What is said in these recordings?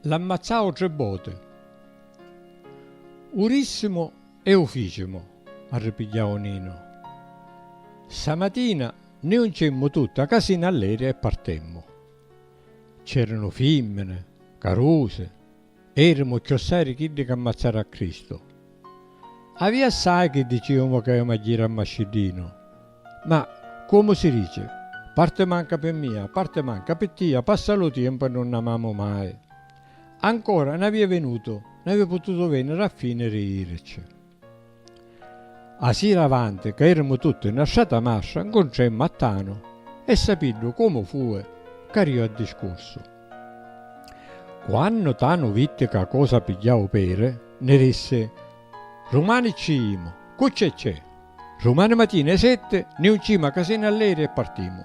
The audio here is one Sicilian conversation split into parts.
L'ammazzau tri boti. U rissimu e u ficimu, arripigghiau Ninu. Ssa matina ni juncimmu tutti a casina allegri e partemmu. C'eranu fimmini, carusi. Erimu cchiossai di chiddi ca ammazzaru a Cristu. Avia assai chi diciumu ca ioma jiri a Mascidinu. Ma, comu si dici, parti manca pi mia, parti manca pi tia, passa lu tiempu e nun amamu mai. Ancora, n'avia vinutu, n'avia pututu veniri a finiri jirici. A sira avanti ca erimu tutti nna strata mastra ncuntremmu a Tanu e sapiddu comu fui cariu a discursu. Quannu Tanu vitti ca cosa pigghiau peri nni rissi, Rumani cci jimu, cu cce cce, rumani matina 'i setti niuncima casina alleri e partimu.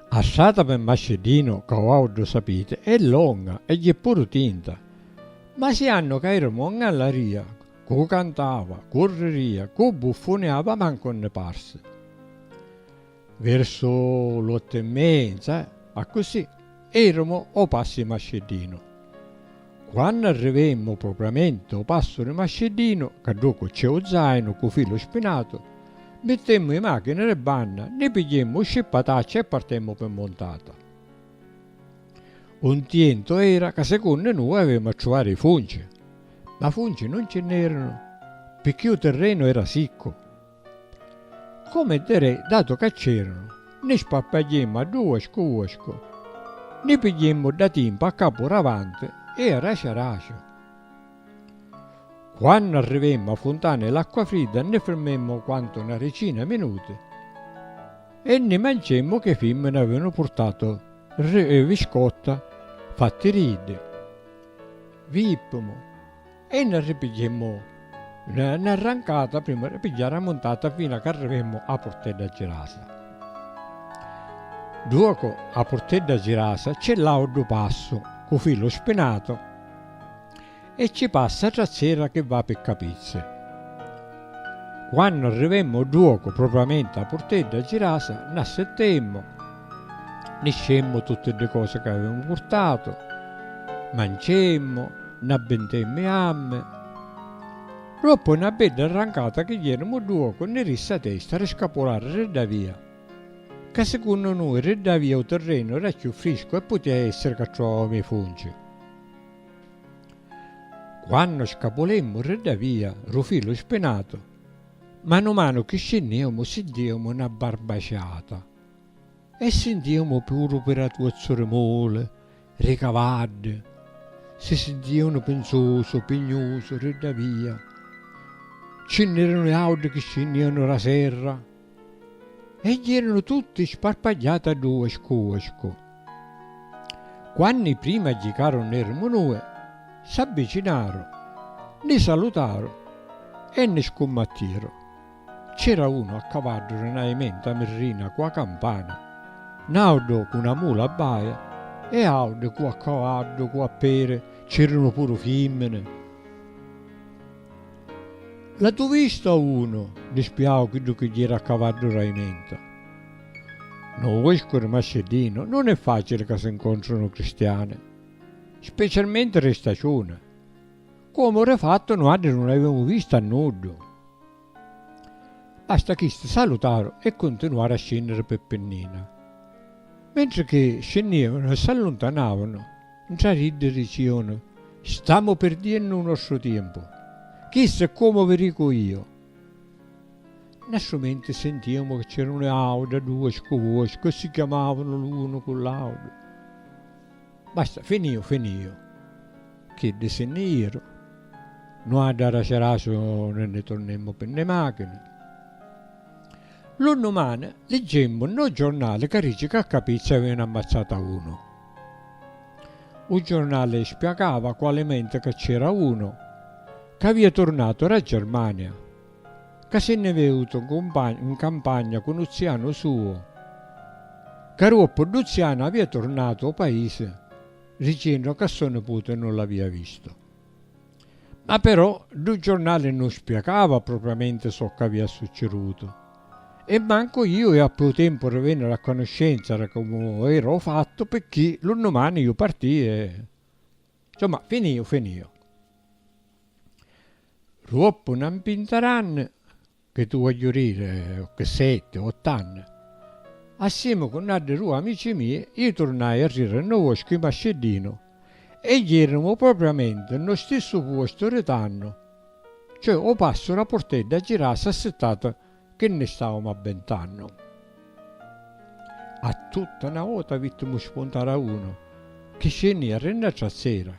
A strata pe Masciddinu, ca uau ddu sapiti, è longa e jì puru tinta. Ma si annu ca iramu a ngallaria, cu cantava, cu riria, cu buffuniava mancu nni parsi. Versu l'ottu e menza, accussì, iramu o passi i Masciddinu. Quannu arrivemmu o propriamenti o passu di Masciddinu, ca ddocu cc'è u zainu cu filu spinatu, mittemmu i machini di banna, nni pigghiemmu u scippatacci e partemmu pi muntata. U ntientu era ca secunnu nui avemu a truvari i funci, ma funci nun ci nn'eranu, picchì u tirrenu era siccu. Comu e diri, datu ca c'eranu, ni sparpagghiemmu a dui uascu uascu, ni pigghiemmu da timpu a capu ravanti e a raci a raci. Quannu arrivemmu a funtana e l'acqua fridda ni firmemmu quantu na ricina minuti e ni manciemmu ca i fimmini avevanu purtatu ri viscotta fatti ri iddi. Vippimu. E nna ripigghiemmu nna nna rancata prima di pigghiari a muntata fina c'arrivemmu a Purtedda Girasa. Duocu a Purtedda Girasa c'è l'audu passu cu filu spinatu e ci passa a trazzera chi va pi Capizzi. Quannu arrivemmu o dduocu propriamenti a Purtedda Girasa, n'assettemmu, niscemmu tutti ddi cosi ca avemu purtatu, mancemmu, n'abbintemmu i ammi. Doppu na bedda arrancata chi jenemu o dduocu ni rissi a testa ri scapulari ri dda via, ca sicunnu nui ri dda via u tirrenu era cchiù friscu e putia essiri ca truvavemu i funci. Quannu scapulemmu ri dda via ru filu spinatu, manu manu chi scinniemu sintiemu na barbaciata e sintiemu puru piratuozzu ri muli, ri cavaddi, si sintiunu pinzusu, pignusu ri dda via. Ci nn'erunu autri chi scinnienu ra serra. e ieranu tutti sparpagliati a ddu uescu uescu. Quanni prima jicaru n'erimu nui, s'abbicinaru, ni salutaru e ni scummattiru. C'era unu a cavaddu ri na imenta mirrina cu a campana, n'audu cu na mula a baia e audi cu a cavaddu cu a peri, c'eranu puru fimmini. L'atu vistu a unu di spiau chiddu chi jira a cavaddu ra imenta? No uescu di Masceddinu nun è facili ca si ncontrunu cristiani, specialmenti ri staciuni, comu ri fattu nuaddi nun avimu vistu a nuddu. Basta chisti salutaru e cuntinuaru a scinniri pi Pinnina. Mentri chi scinnivanu e s'alluntanavanu, Ntra d'iddi diciunu, Stamu pirdiennu u nostru tiempu. Chistu è comu vi dicu io. Nna stu mentri sintiemu ca c'erunu auda due scuvuoscu e si chiamavunu l'unu cu l'audu. Basta, finiu, finiu. Chiddi si nni iru. Nuaddu araci araciu ni nni turnemu pi nni machini. Lu nnumani liggemu nno giornali ca dici ca a Capizzi avevanu ammazzatu a unu. U jornali spiagava cu alimenti ca c'era unu ca avia turnatu ra Germania ca si nni viutu n campagna cu nu zianu suu ca ruoppu ddu zianu avia turnatu o paisi ricinnu ca so niputi nun l'avia vistu. Ma però ddu giornali nun spiacava propriamenti soccu avia succidutu e mancu iu iu appu tempu ri vèniri a canuscenza ri comu era u fattu pirchì lu nnumani iu partii e. Nsumma, finìu, finìu. Ruoppu na mpinta d'anni. Che tu voglio rire cche sette, otto anni, assieme cu n'addi due amici mie, io turnai a rire nno voscu 'i Masceddinu e jeremu propriamente nno stissu puostu ri tannu, cioè 'o passu ra purtedda a girasi assittati che nni stavamu abbentannu. A tutta na vota vittimu spuntari a unu chi scennia ri na trazzera.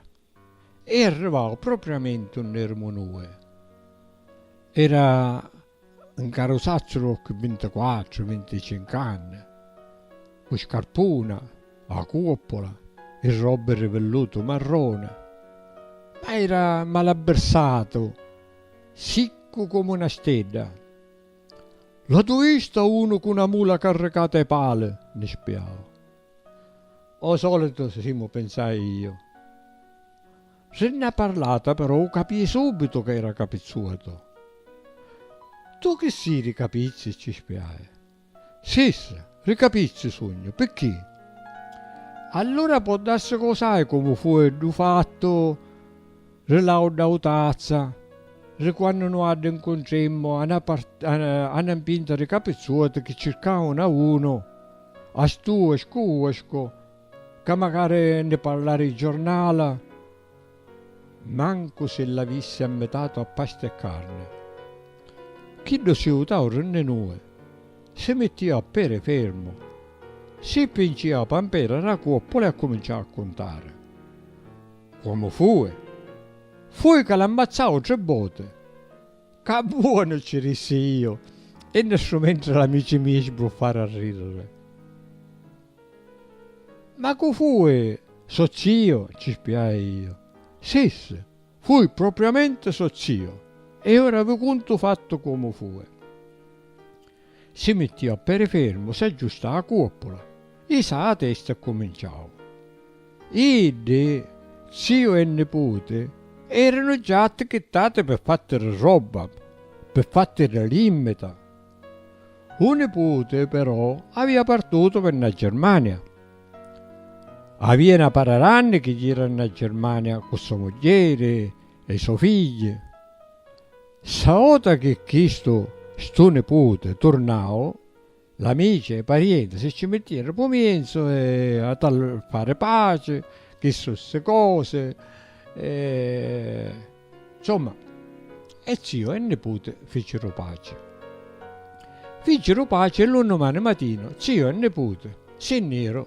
E arrivau propriamenti unni erimu nui. Era 'n carusazzu d'occhi vintiquattru, vinticincu anni, cu scarpuna, a cuoppola e robbi ri villutu marroni, ma era malabbirsatu, siccu comu 'na stedda. L'atu vista unu cu 'na mula carricata 'i pali, nni spiau. O solitu simu, pinsai iu. Si nn'ha parlata però u capii subitu ca era capizzuatu. Tu chi si ri capizzi? ci spiai. Sis, ri capizzi sugnu, picchì? Allura può darsi ca u sai comu fui ddu fattu? Ri l'auda u tazza. Ri quannu nuaddi ncuntrimmu a na a na mpinta ri capizzuoti chi circaunu a unu, a stu e scu uescu, ca macari ndi parla ri jornala, mancu si l'avissi ammitatu a pasta e carni. Chiddu si utau ri nni nui, si mittiu a peri fermu, si pinciu a pampera ra cuoppula e accuminciau a cuntari. Comu fui? Fui ca l'ammacciau tri voti. Ca buoni! ci rissi iu, e nessu mentri l'amici mii sbruffaru a ridiri. Ma cu fui? Socc'io? ci spiai iu. Si, si, fui propriamenti socc'io, e ora vi cuntu fattu comu fui. Si mittiu a peri fermu, s'aggiustau a cuoppula, isau a testa e cuminciau. Iddi, ziu e niputi, eranu già attichittati pi fatti di robba, pi fatti di limmita. U niputi, però, avia partutu pi na Germania. Avia na para d'anni chi jira na Germania cu so mugghieri e i so figghi. Ssa vota chi chistu stu nipute turnau, l'amici e i parienti si cci mittieru pu mienzu e a tal fari paci, chi su ssi cosi e nsomma e ziu e nipute ficiru paci. Ficiru paci e lu nnumani matinu ziu e nipute si nniru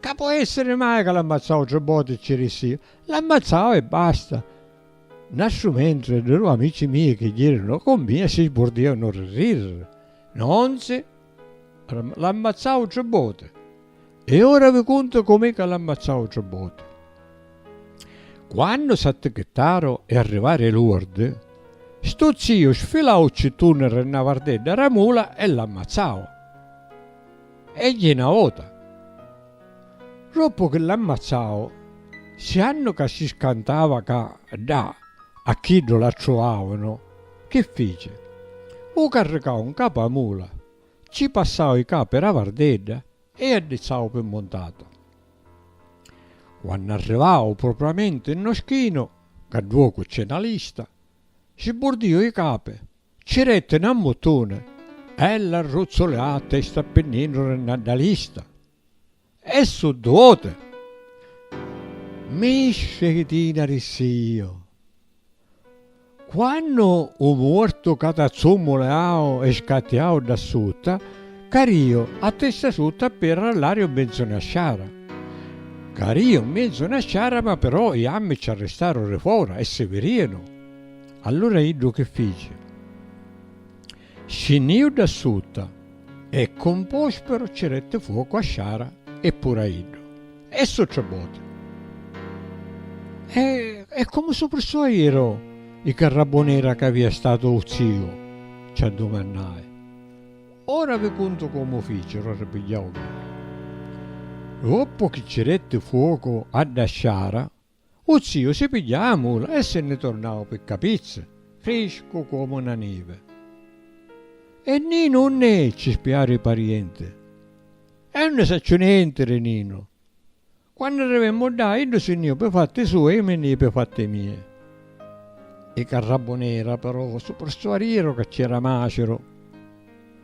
Ca po' essiri mai ca l'ammazzau tri boti e ci rissi iu? L'ammazzau e basta! N'astru mentri di du' amici mia chi jirinu cu mia si sburdianu di rirri. Nonzi! L'ammazzau tri boti! E ora vi cuntu com'è ca l'ammazzau tri boti. Quannu s'attichittaru e arrivaru i luardi, stu ziu sfilau u cittuni ri na vardedda ra mula e l'ammazzau. Egli na vota, doppu chi l'ammazzau, siannu ca si scantava ca ddà a chiddu l'attruvavanu, chi fici? U carricau 'ncapu a mula, cci passau i capi ra vardedda e addizzau pi muntatu. Quannu arrivau propriamenti 'nno schinu, ca dduocu c'è na lista, si burdìu i capi Ci retti na mutuna bella arruzzulata e sta pinninu ri na dalista e su duote misce chi tina ri sio. Quannu u muortu ca t'azzummuleau e scattiau dda sutta, cariu a testa sutta pi arrallariu mmenzu na sciara. Cariu mmenzu na sciara ma però i ammi ci arristaru ri fora e si virianu. Allura iddu chi fici? Scinniu dda sutta e ccu un pospero ci detti fuocu a sciara e puru a iddu. E su tri boti. E e comu su prissò iru i carrabunira ca avia statu u ziu? ci addumannai. Ora vi cuntu comu ficiru, arripigghiau Villa. Doppu chi ci detti fuocu a dda sciara, U ziu si pigghiau a mula e si nni tornau pi capizza, friscu comu na nivi. E Ninu unn'è? ci spiaru i parienti. E unni sacciu nenti, ri Ninu. Quannu arrivemmu ddà, iddu si nni ju pi fatti sui e ju mi nni ji pi fatti mia. I carrabunera, però, su pirsuariru ca c'era Maciru.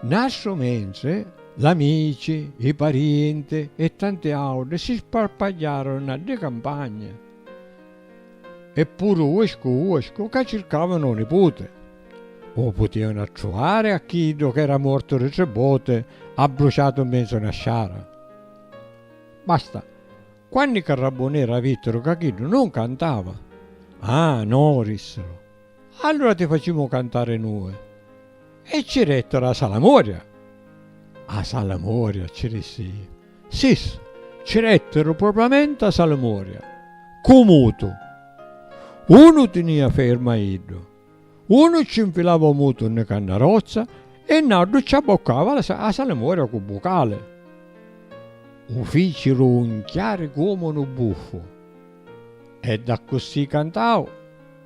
Nastru mentri, l'amici, i parienti e tanti autri si sparpagghiaru nna ddi campagni e puru uescu uescu ca circavanu u niputi. U putianu attruvari a chiddu ch'era mortu di tri voti abbruciatu mmenzu na sciara. Basta, quannu i carrabbuneri avittiru ca chiddu non cantava, Ah, no, dissiru, Allura ti facimu cantari nui. E ci rettero 'a salamoria. 'a salamoria ci rissi iu. Sis, ci rettero propriamenti 'a salamoria. Cu mutu. Unu tinia fermu a iddu. Unu ci 'nfilava 'u mutu nni candarozza e n'autru ci abboccava 'a salamoria cu bucali. 'u ficiru 'unchiari comu 'nu buffu. E d'accussì cantau.